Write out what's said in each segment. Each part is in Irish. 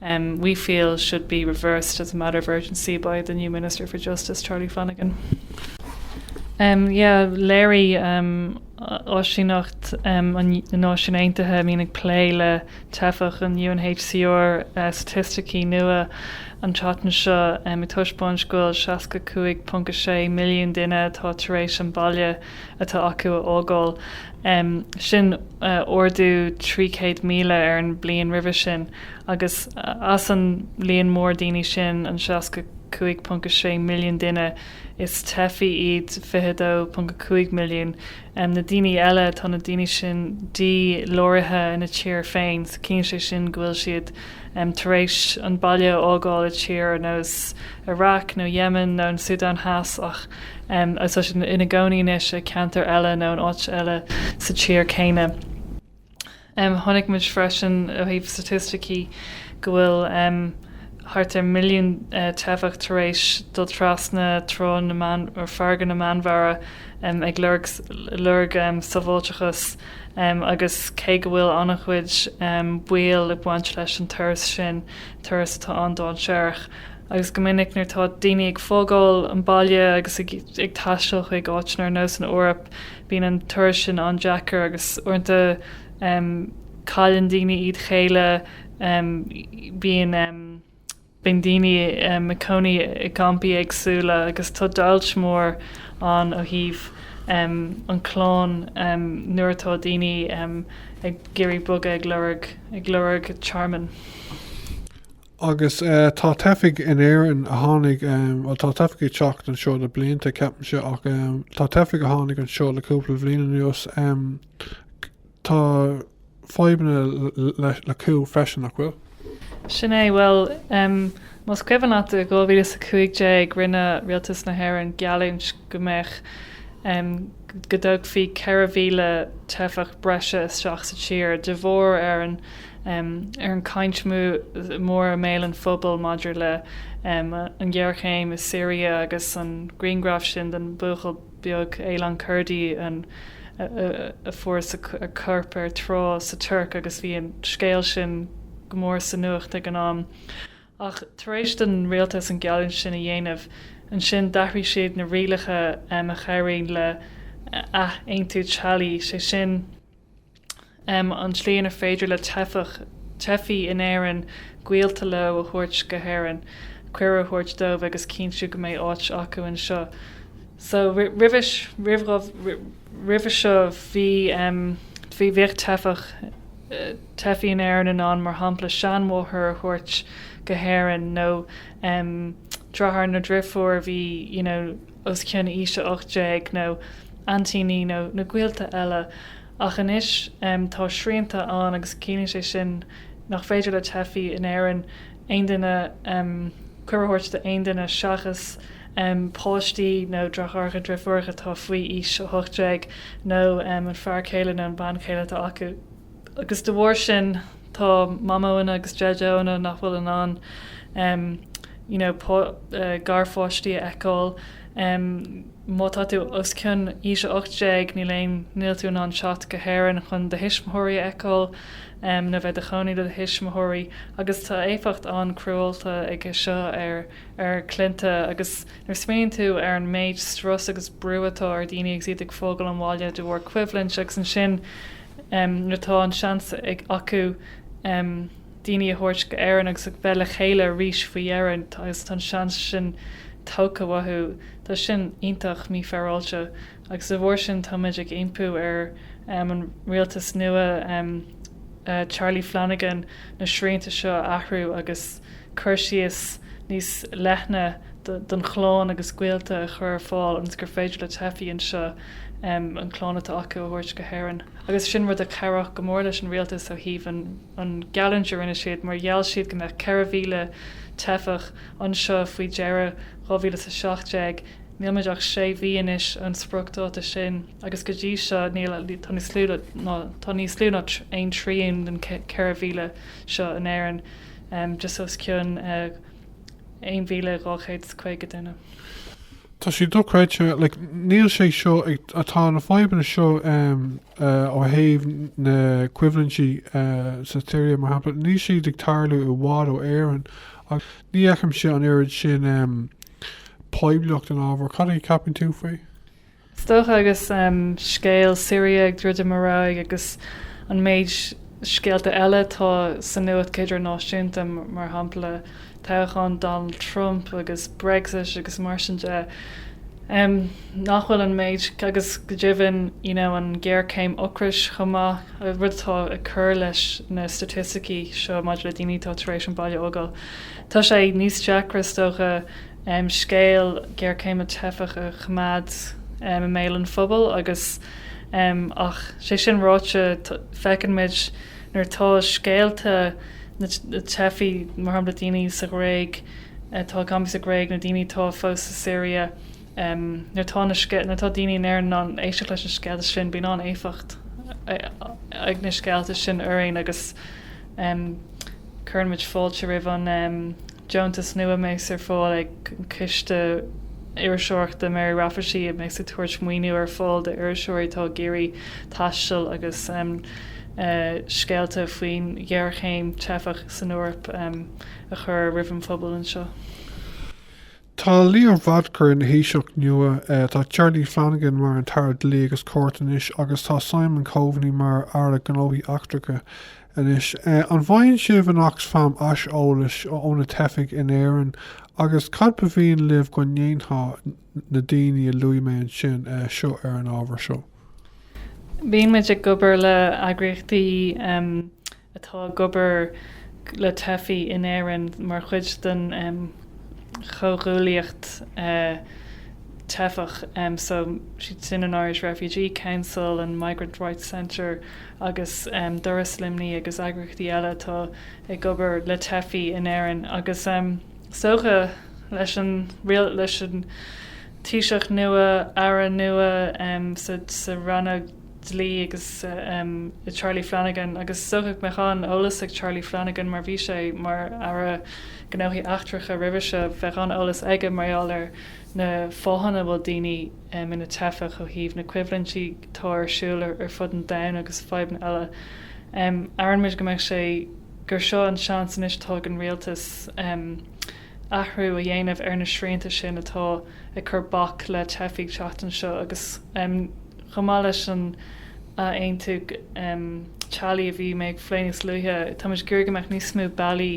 we feel should be reversed as a matter of urgency by the new Minister for Justice, Charlie Flanagan. Yeah, léirigh áisíneacht na Náisiún Aontaithe a bhíonn ag plé le teifigh, an UNHCR, staitisticí nua an tseachtain seo ag taispeáint go bhfuil 65.6 milliún duine atá tar éis an baile atá acu a fhágáil, sin ardú 300,000 ar an mbliain roimhe sin. Agus as an líon mór daoine sin, an 65.6 milliún duine, is teifigh iad 22.5 milliún. Na daoine eile, tá na daoine sin dí-láraithe ina dtír féin, so ciallaíonn sé sin go bhfuil siad tar éis an baile a fhágáil i tír ar nós Iraq nó Yemen nó an Sudan Theas ach tá siad ina gcónaí anois i gceantar eile nó in áit eile sa tír céanna. Chonaic muid freisin, ó thaobh staitisticí, go bhfuil thart ar milliún teifeach tar éis dul trasna farraige na Meánmhara ag lorg sábháilteachas agus cé go bhfuil an-chuid baoil ag baint leis an turas sin, turas atá an-dainséarach agus go minic nuair atá daoine ag fágáil an baile agus ag taisteal chuig áiteanna ar nós an Eoraip, Bíonn an turas sin an-deacair agus uaireanta cailleann daoine iad chéile. Bíonn, bíonn daoine ina gcónaí i gcampaí éagsúla agus tá deighilt mhór ann ó thaobh an chlann nuair atá daoine ag iarraidh bogadh ag lorg tearmann. Agus tá teifigh in Éirinn a tháinig, bhuel, tá teifigh ag teacht anseo le blianta, ceapaimse, ach tá teifigh a tháinig anseo le cúpla bliain anuas. Tá fadhbanna acu freisin, nach bhfuil? Sin é, bhuel, más cuimhin leat, i 2015 rinne rialtas na hÉireann geallúint go mbeadh, go dtógfaí 4,000 teifeach breise isteach sa tír de bharr an, ar an chaint mhór i mbéal an phobail maidir leis an ghéarchéim i Siria agus an grianghraf sin den bhuachaill beag, Aylan Kurdi, a fuarthas a chorp ar trá sa Tuirc agus bhí an scéal sin go mór sa nuacht ag an am. Ach tar éis don rialtas an geallúint sin a dhéanamh, ansin d'athraigh siad na rialacha a chabhraíonn le athaontú teaghlaigh, sé sin, M, An tslí inar féidir le teifeach, teifí in Éirinn, gaolta leo a thabhairt go hÉirinn, cuireadh a thabhairt dóibh agus cinntiú go mbeidh áit acu anseo. So, roimhe, roimhe seo, bhí, em, bhí, bhíodh teifeach, teifí in Éirinn in ann, mar shampla, seanmháthair a thabhairt go hÉirinn nó, em, dreatháir nó dheirfiúr a bhí, you know, os cionn aois a 18, nó aintíní nó gaolta eile, ach anois tá srianta ann agus ciallaíonn sé sin nach féidir le teifí in Éirinn aon duine cuireadh a thabhairt d'aon duine seachas páistí nó deartháireacha, dreifiúracha atá faoi aois 18, nó an fear céile nó an bean chéile atá acu. agus de bharr sin tá Mamóanna agus Deideoanna nach bhfuil in ann you know garpháistí a fheiceáil. Má tá tú os cionn aois a 18, níl aon níl tú in ann teacht go hÉirinn chun do thuismitheoirí a fheiceáil nó bheith i do chónaí le do thuismitheoirí agus tá éifeacht an-cruálta aige seo ar ár gcliaint agus nuair a smaoiníonn tú ar an méid strus agus brú atá ar daoine agus iad ag fágáil an bhaile de bharr coimhlint agus ansin nuair atá an seans acu daoine a thabhairt go hÉirinn agus a bheith le chéile arís faoi dheireadh agus tá an seans sin tógtha uathu. Tá sin iontach mífhéaráilte agus de bharr sin tá muid ag impí ar an rialtas nua Charlie Flanagan na srianta seo a athrú agus cur síos níos leithne don chlann agus gaolta a chur ar fáil ionas gur féidir le teifí anseo an chlann atá acu a thabhairt go hÉirinn. Agus sin rud a chabhródh go mór leis an rialtas ó thaobh an geallúint a rinne siad, mar gheall siad go mbeadh 4,000 teifeach anseo faoi dheireadh 2017. Níl muid ach sé mhí anois ón spriocdháta sin agus go dtí seo tá níos lú ná aon trian den 4,000 seo in Éirinn, just os cionn. 1,250 duine. Tá sé dochreidte. Like, níl sé seo ag, tá na fadhbanna seo ó thaobh na coimhlintí sa tSiria, mar shampla, níl siad ag tarlú i bhfad ó Éirinn. Ach ní fheicimse an oiread sin poiblíocht don ábhar. Cad é a ceapann tú faoi? Is dócha, agus scéal Syria ag druidim ar aghaidh agus an méid scéalta eile atá sa nuacht idirnáisiúnta, mar shampla toghchán Donald Trump agus Brexit agus mar sin de, nach bhfuil an méid, agus go deimhin you know an ghéarchéim ocrais chomh maith, rud atá ag cur leis na staitisticí seo maidir le daoine atá tar éis an baile a fhágáil. Tá sé níos deacra is dócha dócha scéal géarchéim na teifeach a choimeád i mbéal an phobail agus ach sé sin ráite feiceann muid nuair atá scéalta na teifigh mar shampla daoine sa Ghréig atá ag campáil sa Ghréig nó daoine atá fós sa Siria nuair atá na nuair atá daoine in Éirinn in ann éisteacht leis na scéalta sin bíonn an-éifeacht ag na scéalta sin orainn agus Cuireann muid fáilte roimh an deontas nua a mbeas ar fáil ag Ciste Iriseoireachta de Mary Raftery a mbeas ag tabhairt maoiniú ar fáil d'iriseoirí atá ag iarraidh taisteal agus scéalta faoin ghéarchéim teifeach san Eoraip a chur roimh an bpobal anseo. Tá Leo Varadkar ina Thaoiseach nua, tá Charlie Flanagan mar an tAire Dlí agus Cirt anois agus tá Simon Coveney mar Aire Gnóthaí Eachtracha. Anois, an bhfaigheann sibh in Oxfam aiseolas ó na teifigh in Éirinn, agus cad ba mhian libh go ndéanfadh na daoine a luaigh mé ansin, seo, ar an ábhar seo? Bíonn muid ag obair le heagraíochtaí atá ag obair le teifigh in Éirinn mar chuid den chomhghuaillíocht teifeach, so is iad sin an Irish Refugee Council, an Migrant Rights Centre, agus Doras Luimní agus eagraíochtaí eile atá ag obair le teifigh in Éirinn, agus is dócha leis an Taoiseach nua, Aire nua sa Roinn Dlí agus i Charlie Flanagan, agus is dócha go mbeadh an-eolas ag Charlie Flanagan mar bhí sé mar Aire Gnóthaí Eachtracha roimhe seo, bheadh an-eolas aige mar gheall ar na fáthanna a bhfuil daoine ina teifeach ó thaobh na coimhlintí atá ar siúl ar fud an domhain agus fadhbanna eile. Iarrann muid go mbeidh sé gur seo an seans anois atá ag an rialtas athrú a dhéanamh ar na srianta sin atá ag cur bac le teifigh teacht anseo agus chomh maith leis an athaontú teaghlaigh a bhí mé ag plé níos luaithe, tá muid ag iarraidh go mbeadh níos mó bealaí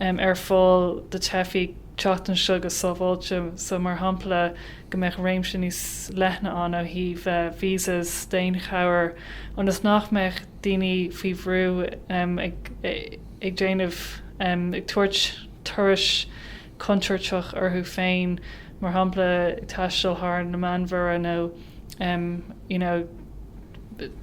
ar fáil do theifigh teacht anseo go sábháilte. So, mar shampla. go mbeadh réimse níos leithne ann ó thaobh visas, daonchabhair, ionas nach mbeadh daoine faoi bhrú ag déanamh, ag tabhairt turais contúirteach orthu féin, mar shampla taisteal thar an Meánmhuir nó you know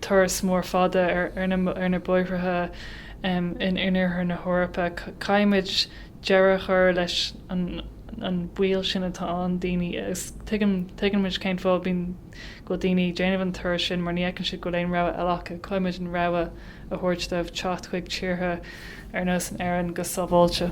turas mór fada ar na bóithre in oirthear na hEorpa. Caithfimid deireadh a chur leis an an baol sin atá ann daoine agus tuigim tuigeann muid cén fáth bíonn go bhfuil daoine ag déanamh an turas sin mar ní fheiceann siad go bhfuil aon rogha eile acu caithfidh muid an rogha a thabhairt dóibh teacht chuig tíortha ar nós na hÉireann go sábháilte.